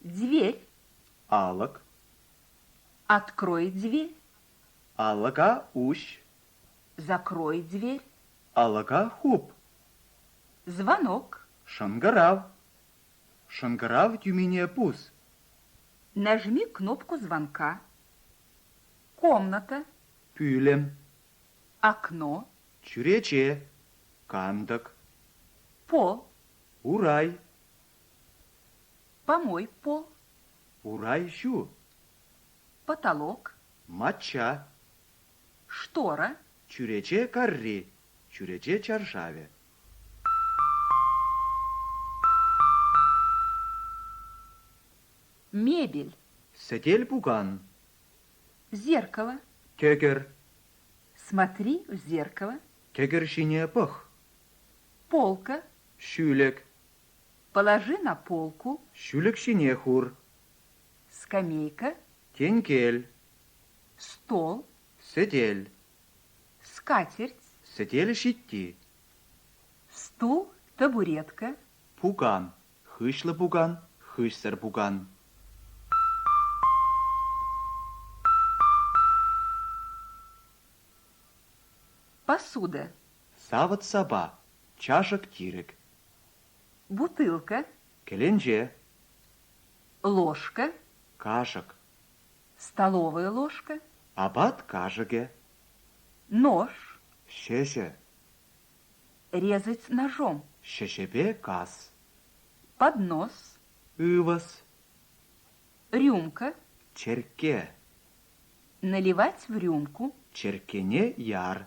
Дверь. Алӑк. Открой дверь. Алӑка уҫ. Закрой дверь. Алӑка хуп. Звонок. Шӑнкӑрав. Шӑнкӑрав тӳмине пус. Нажми кнопку звонка. Комната. Пӳлӗм. Окно. Чӳрече. Кантӑк. Пол. Урай. Помой пол. Урай ҫу. Потолок. Мачча. Штора. Чӳрече карри. Чӳрече чаршавӗ. Мебель. Сӗтел пукан. Зеркало. Кӗкӗр. Смотри в зеркало. Кӗкӗр ҫине пӑх. Полка. Ҫӳлӗк. Положи на полку. Ҫӳлӗк ҫине хур. Скамейка. Тенкел. Стол. Сӗтел. Скатерть. Сӗтел ҫитти. Стул. Табуретка. Пукан. Хыҫлӑ пукан, хыҫсӑр пукан. Посуда. Савӑт-сапа, чашӑк-тирӗк. Бутылка. Кӗленче. Ложка. Кашӑк. Столовая ложка. Апат кашӑкӗ. Нож. Ҫӗҫӗ. Резать ножом. Ҫӗҫӗпе кас. Поднос. Ывӑс. Рюмка. Черкке. Наливать в рюмку. Черккене яр.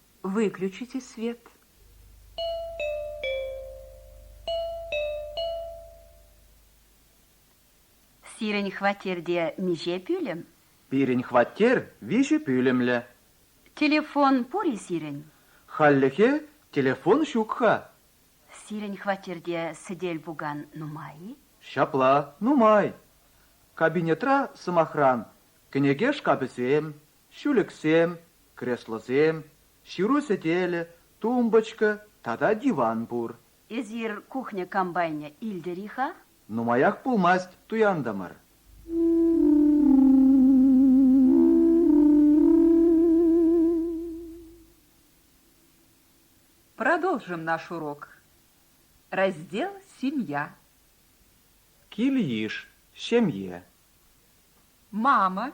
выключите свет Сирӗн хваттерте миҫе пӳлӗм? Пирӗн хваттер виҫӗ пӳлӗмлӗ. Телефон пур-и сирӗн? Хальлӗхе телефон ҫук-ха. Сирӗн хваттерте сӗтел-пукан нумай-и? Ҫапла, нумай. Кабинетра, сӑмахран, кӗнеке шкафӗсем, ҫӳлӗксем, креслӑсем, ҫыру сӗтелӗ, тумбочка тата диван пур. Эсир кухня-комбайнӗ илтӗр-и-ха? Нумаях пулмасть туянтӑмӑр. Продолжим наш урок. Раздел Семья. Кил-йыш, ҫемье. Мама,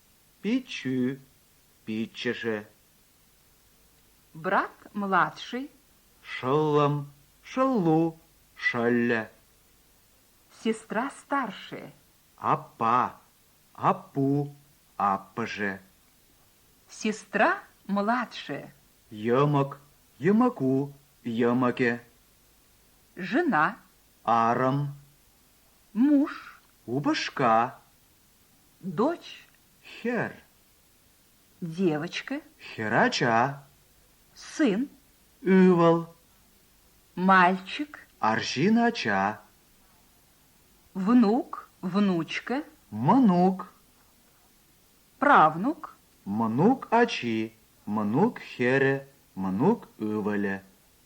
Пиччӳ пиччӗшӗ. Брат младший. Шӑллӑм шӑллу шӑллӗ. Сестра старшая. Аппа аппу аппӑшӗ. Сестра младшая. Йӑмӑк йӑмӑку йӑмӑкӗ. Жена. Арӑм. Муж. Упӑшка. Дочь хӗр. Девочка. Хӗр ача. Сын. Ывӑл. Мальчик. Арҫын ача. Внук. Внучка. Мӑнук. Правнук. Мӑнук ачи. Мӑнук хӗрӗ. Мӑнук ывӑлӗ.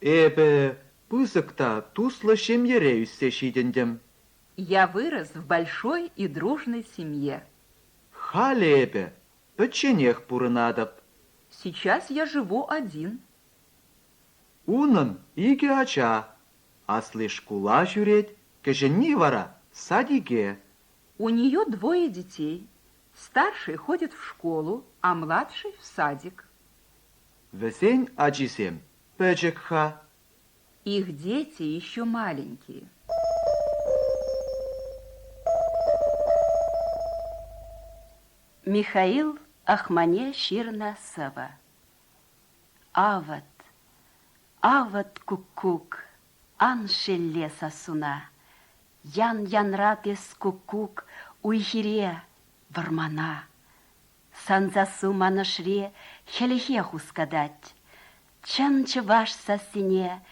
Эпӗ пысӑк та туслӑ ҫемьере ӳссе ҫитӗнтӗм. Я вырос в большой и дружной семье. Халӗ эпӗ пӗчченех пурӑнатӑп. Сейчас я живу один. Унӑн икӗ ача. Асли шкула ҫӳрет, кӗҫӗнни вара садике. У нее двое детей. Старший ходит в школу, а младший в садик. Вӗсен ачисем пӗчӗк-ха. Их дети еще маленькие. Михаил Ахмане ҫырнӑ сӑвӑ. Авӑт, авӑт куккук, ан шелле сассуна, Ян-янрат эс куккук уй-хире, вӑрмана. Сансассу Манӑшри хӗлхе хускатать. Чӑн чӑваш сассине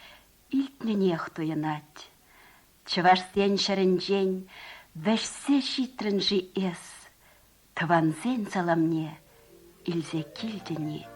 илтнӗнех туйӑнать. Чӑвашсен ҫӗрӗнчен вӗҫсе ҫитрӗн-ши эс? Тӑвансен саламне илсе килтӗн-и?